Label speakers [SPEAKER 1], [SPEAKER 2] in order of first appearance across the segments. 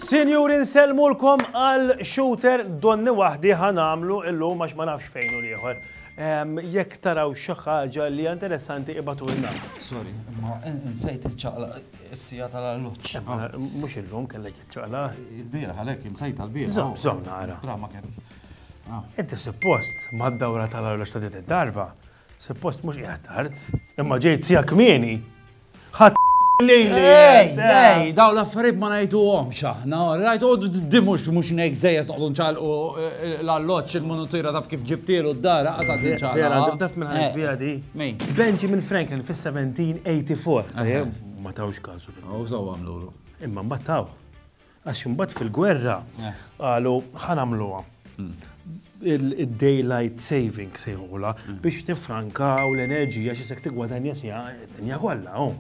[SPEAKER 1] Sinjur inselmu l-kom għal shooter donni wahdi ħanamlu illum għax ma nafx fejn u liħor. Jek taraw xaħġa li interessanti ibatu l-na. Sorry, ma
[SPEAKER 2] nsejt il-ċaqla s-sija tal-alluċ. Mux illum
[SPEAKER 1] kellek. Ċaqla? Il-bieraħ għalhekk
[SPEAKER 2] insajta l-bieraħ. Żomm, żomm nara. Bra ma kien. Ah. Inti
[SPEAKER 1] suppost mad-dawra tal-arloġ ta' din id-darba, suppost mhux qiegħed tard, imma ġejt sija kmieni. Ħadd lejli. Ej,
[SPEAKER 2] ej, daw l-affarijiet ma ngħiduhomx aħna. Rajt għodu d-dimux mhux ngħid żejjed toqgħdu nċalqu eh, l-alloġġ il-munutira taf kif ġibtielu d-dara qasad nċalqu. Sera, taf minn ħadd fiha di.
[SPEAKER 1] Benjamin Franklin fis-1784. Ma tawx kasu fil-. Għaw saw għamlu.
[SPEAKER 2] Imma mbagħad taw.
[SPEAKER 1] Għax imbagħad fil-gwerra qalu ħa nagħmluha il-daylight saving sejħula biex tifrankaw l-enerġija xi sekk tigwadanja sija dinja kollha. Oh.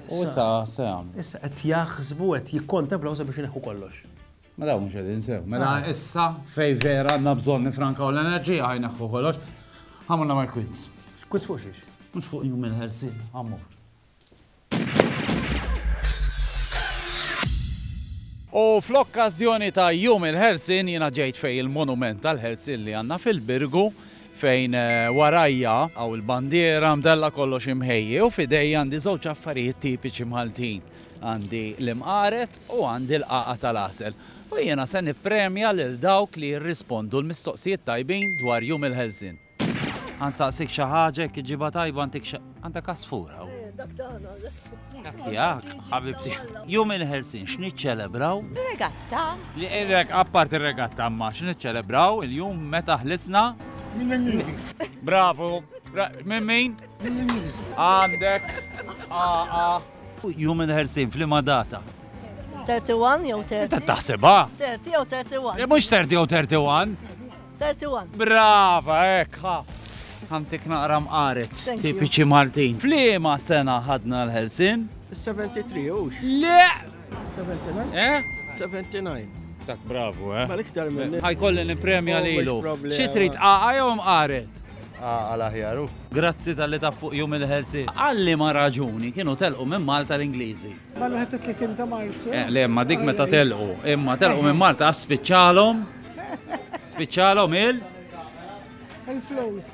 [SPEAKER 1] U issa
[SPEAKER 2] se jagħmlu. Issa qed jaħsbu
[SPEAKER 1] qed jikkontemplaw sabiex ineħħu kollox. Ma dawn mhux qegħdin
[SPEAKER 2] sew. Mela ah. issa fej vera għandna bżonn nifrankaw l-enerġija ħajneħħu kollox. Ħamulna mal-quiz. Quiz fuq xiex?
[SPEAKER 1] Mhux fuq jum il-ħelsin,
[SPEAKER 2] ħammur. U fl-okkażjoni ta' Jum il-Ħelsien jiena ġejt fejn il-monument tal-ħelsien li għandna fil-Birgu fejn eh, warajja għaw il-bandiera mdella kollox imħejji u fidej għandi żewġ affarijiet tipiċi Maltin. Għandi l-imqaret u għandi l-qaqa tal-asel. U jiena se nippremja lil dawk li jirrispondu l-mistoqsijiet tajbin dwar jum il-ħelsin. Għan saqsik xaħġa, jek ġiba tajba għantik xa... Għanda kasfur għaw. Eh, dak tana. Dak tijak, ħabibti. Jum il-ħelsin, xniċċelebraw? Regatta.
[SPEAKER 3] Li irrek,
[SPEAKER 2] appart il-regatta, ma xniċċelebraw il-jum meta ħlisna? Mill-Ingliżi. Bravo. Minn min? Mill-Ingliżi. Għandek. Aqa. Jum il-ħelsin, flima data.
[SPEAKER 3] 31 jew 30. Taħseba? 30 jew 31. Mux 30 jew 31.
[SPEAKER 2] 31.
[SPEAKER 3] Brava,
[SPEAKER 2] hekk ha. Ħamtik naqra mqaret, Thank you. tipiċi Maltin. Fliema sena ħadna l-ħelsin? 73
[SPEAKER 4] hux. Le! 79? Eh? 79. Tak bravu,
[SPEAKER 2] eh? Mal iktar minn.
[SPEAKER 4] Ħajkolli nipremja
[SPEAKER 2] Always lilu. problema. Xi trid qaqa jew mqaret? Għal aħjaru.
[SPEAKER 5] Grazzi tal-li
[SPEAKER 2] taf fuq jum il-ħelsin. Għalli ma raġuni kienu telqu minn Malta l-Ingliżi. Mal-31
[SPEAKER 6] ta' Marzu. Eh, le, ma dik meta
[SPEAKER 2] telqu. Imma telqu minn Malta għas spiċċalhom. Spiċċalhom il?
[SPEAKER 6] Il-flows.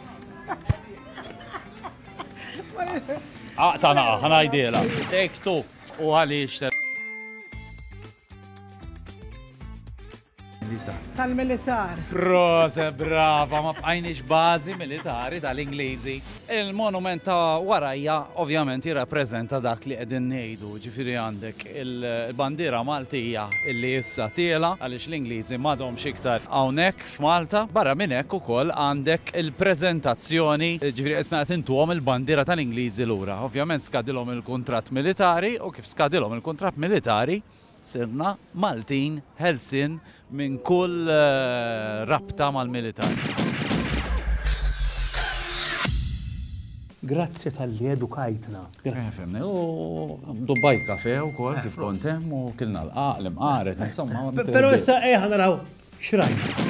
[SPEAKER 2] Aqta naqa, ħanajdela. Take two. U għaliex
[SPEAKER 6] Tal-militar. Prose,
[SPEAKER 2] brava, ma bqajniex bażi militari tal-Ingliżi. Il-monument ta' warajja ovvjament jirrappreżenta dak li qegħdin ngħidu, ġifieri għandek il-bandiera Maltija illi issa tiela għaliex l-Ingliżi m'għadhomx iktar hawnhekk f'Malta. Barra minn hekk ukoll għandek il-preżentazzjoni, ġifieri isna qed intuhom il-bandiera tal-Ingliżi lura. Ovvjament skadilhom il-kuntratt militari u kif skadilhom il-kuntratt militari, Sirna Maltin ħelsien minn kull rabta mal-militar.
[SPEAKER 1] Grazzi talli edukajtna.
[SPEAKER 2] Fehmni, u dubbajt kafe wkoll kif kont hemm u kilna l-qaq, l-imqaret, insomma. Però issa ejja
[SPEAKER 1] naraw x'rajna.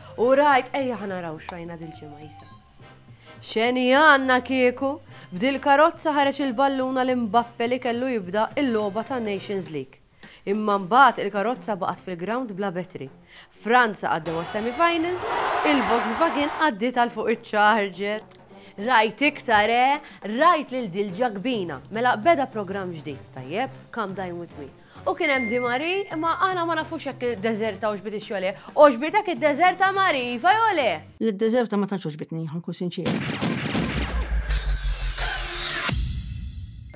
[SPEAKER 3] U rajt, ejja ħa naraw x'rajna dil-ġimgħa, Isa. X'għeni għandna kieku? B'dil-karozza ħareġ il-ballun għal Mbappe li kellu jibda l-logħba tan-Nations League. Imma mbagħad il-karozza baqgħet fil-grawnd bla battery. Franza għaddew għas-semi finals, il-Volkswagen għaddiet għal fuq iċ-charger. Rajt iktar, eh! Rajt lil dil-ġakbina. Mela beda programm ġdid, tajjeb, Come Dine With Me. U kien hemm Di Mari, imma aħna ma nafux jekk iddeżerta u ġbietx jew le. Għoġbitek iddeżerta Mari, iva jew le? Li ddeżerta ma tantx
[SPEAKER 6] għoġbitni, ħa nkun sinċiera.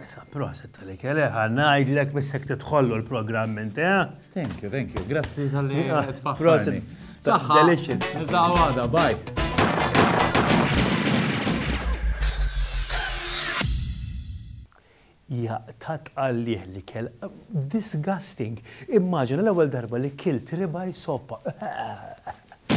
[SPEAKER 6] Issa
[SPEAKER 1] proset tal-ikel, eh, ħa ngħidlek biss jekk tidħollu l-programm int, eh? Thank you, thank you.
[SPEAKER 2] Grazzi tal-li tfakkarni.
[SPEAKER 1] Saħħa. Delicious.
[SPEAKER 2] Niltaqgħu
[SPEAKER 1] għada, bye. Jaqta' tqallih l-ikel. Disgusting! Immaġina l-ewwel darba li kilt ribeye soppa.